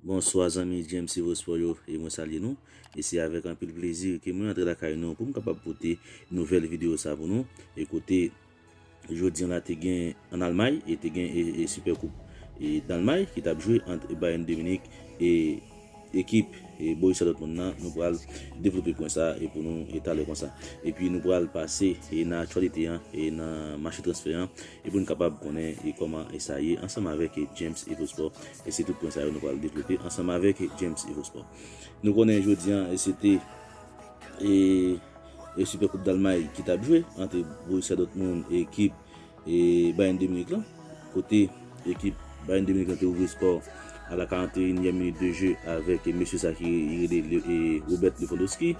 Bonswa zanmi James Evosport yo e mwen salye nou e se avèk anpil plezi ke mwen antre lakay nou pou m kapab pote nouvèl video sa pou nou e kote jodi an la te gen an Almay e te gen e Super Coupe e Dalmay ki tap jwe ant Bayern de Munich e ekip e Borussia Dortmund nan nou pral devlope pwen sa e pou nou e talè konsa e pi nou pral pase e nan aktyalite an e nan mache transfè an e pou n kapab konnen e kòman e sa ye ansanm avèk James Evosport. E se tout pwen sa yo nou pral devlope ansanm avèk James Evosport. Nou konnen jodi an se te e Super Coupe d'Allemagne ki tap jwe ant Borussia Dortmund e ekip e Bayern de Munich lan. Kote ekip Bayern de Munich lan te ouvri skò a la 41 nyèm minit de je avèk mesye sa ki rele Robert Lewandowski.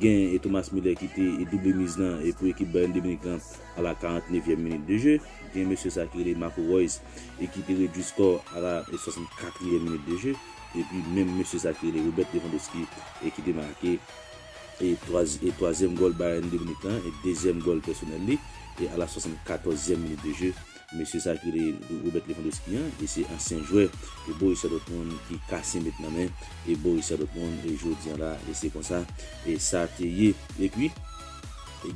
Gen e Thomas Muller ki te e double miz lan e pou ekip Bayern de Munich lan a la 49 yèm minit de je. Gen mesye sa ki rele Marco Reus e ki te redui skò a la 64 yèm minit de je. Epi menm mesye sa ki rele Robert Lewandowski e ki te make e e twazyèm gòl Bayern de Munich lan e dezyèm gòl pèsonèl li e a la 74 yèm minit de je. Mesye sa ki rele Robert Lewandowski an e se ansyen jwè Borussia Dortmund ki kase met nan men Borussia Dortmund jodi an la e se konsa sa te ye. Epi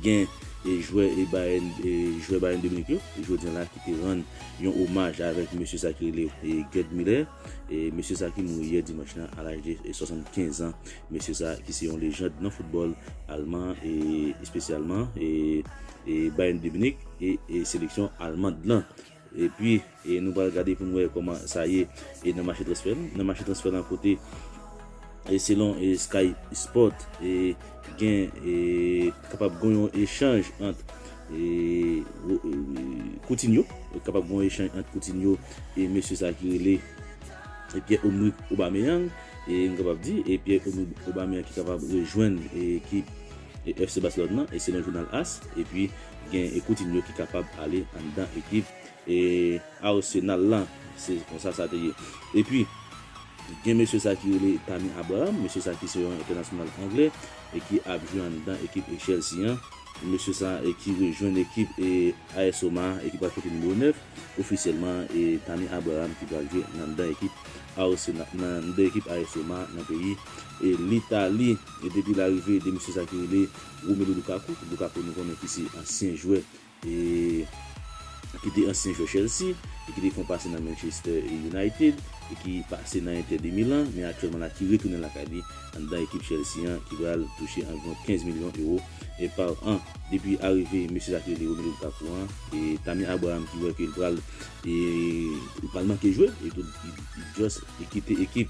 gen jwè Bayern jwè Bayern de Munich yo jodi an la ki te rann yon omaj avèk mesye sa ki rele Gerd Muller e mesye sa ki mouri yè dimanch lan a laj de 75 an. Mesye sa ki se yon lejand nan foutbòl alman e espesyalman e. Bayern de Munich e seleksyon almand lan. Epi nou pral gade pou nou wè kòman sa ye nan mache transfè lan. Nan mache transfè lan kote selon Sky Sport gen kapab gon yon echanj ant Coutinho kapab gon echanj ant Coutinho e mesye sa ki rele Pierre Omerick Aubameyang. Nou kapab di Pierre Omerick Aubameyang ki kapab rejwenn ekip FC Barcelone nan e selon jounal as epi gen Coutinho ki kapab ale anndan ekip Arsenal la se konsa sa te ye epi gen mesye sa ki rele Tammy Abraham mesye sa ki se yon entènasyonal anglè e ki ap jwe anndan ekip Chelsea an mesye sa ki rejwenn ekip AS Roma e ki pral pote nimewo 9 ofisyèlman e Tammy Abraham ki pral jwe anndan ekip Arsenal anndan ekip AS Roma nan peyi. e Litali e depi larive de mesye sa ki rele Romelu Lukaku, Lukaku nou konnen ki se ansyen jwè e ki te ansyen jwè Chelsea e ki te fon pase nan Manchester United e ki pase nan Inter de Milan men aktyèlman la ki retounen lakay li anndan ekip Chelsea an ki pral touche anviwon 15 milyon ewo e par an depi arive mesye sa ki rele Romelu Lukaku an e Tammy Abraham ki wè ke li pral e li pral manke jwe e tou li just kite ekip.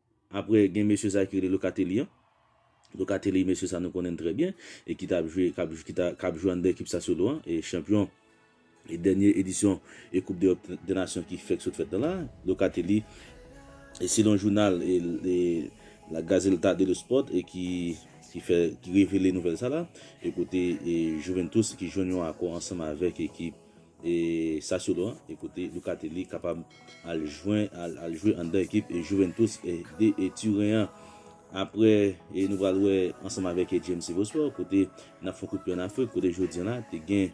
Apre gen mesye sa ki rele Locatelli an. Locatelli mesye sa nou konnen l trè byen e ki ta jwe kap k ap jwe anndan ekip Sassuolo an e chanpyon e dènye edisyon e koup dEròp dè nasyon ki fèk sot fèt nan la. Locatelli e selon jounal e La Gazelta dello Sport e ki ki fè ki revele nouvèl sa la e kote e Juventus ki jwenn yon akò ansanm avèk ekip E sa solo an e kote Lucatelli kapab al jwen al jwe anndan ekip e Juventus e de e Turen an. Aprè e nou pral wè ansanm avèk e JMC Vosport kote nap fon kout pye an Afrik kote jodi an la te gen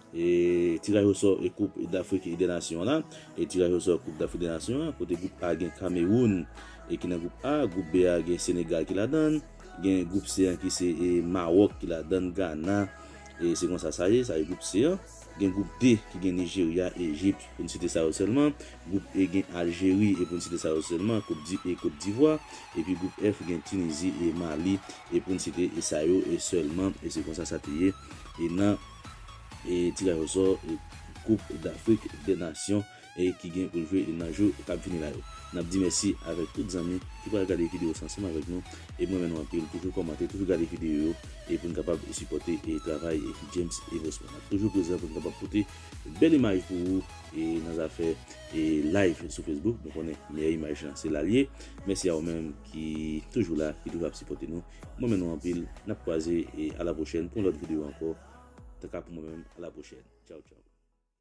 e tiraj osò e koup dAfrik e dè nasyon an la e tiraj osò koup dAfrik dè nasyon an kote group A gen Kameroun e ki nan group A, group B a gen Senegal ki ladann, gen group C an ki se e Mawòk ki ladann Gana e se konsa sa ye sa e group C an. Gen gwoup D ki gen Nijerya, Ejip, pou n site sa yo sèlman. Gwoup E gen Aljeri e pou n site sa yo sèlman, e Kot Divwa. Epi gwoup F gen Tinizi e Mali e pou n site e sa yo e sèlman. E se konsa sa te ye e nan e tiraj osò gwoup Dafrik dè Nasyon. e ki gen pou l jwe nan jou k ap vini la yo. N ap di mèsi avèk tout zanmi ki pral gade videyo sa ansanm avèk nou e m renmen nou anpil toujou kòmante toujou gade videyo yo e pou n kapab sipòte e travay James Evosmond n ap toujou prezan pou n kapab pote bèl imaj pou ou e nan zafè e live sou Facebook nou konnen meyè imaj lan se la l ye mèsi a ou menm ki toujou la ki toujou ap sipòte nou m renmen nou anpil n ap kwaze e a la pwochèn pou yon lòt videyo ankò ta ka pou mwen menm a la pwochèn tchaw tchaw.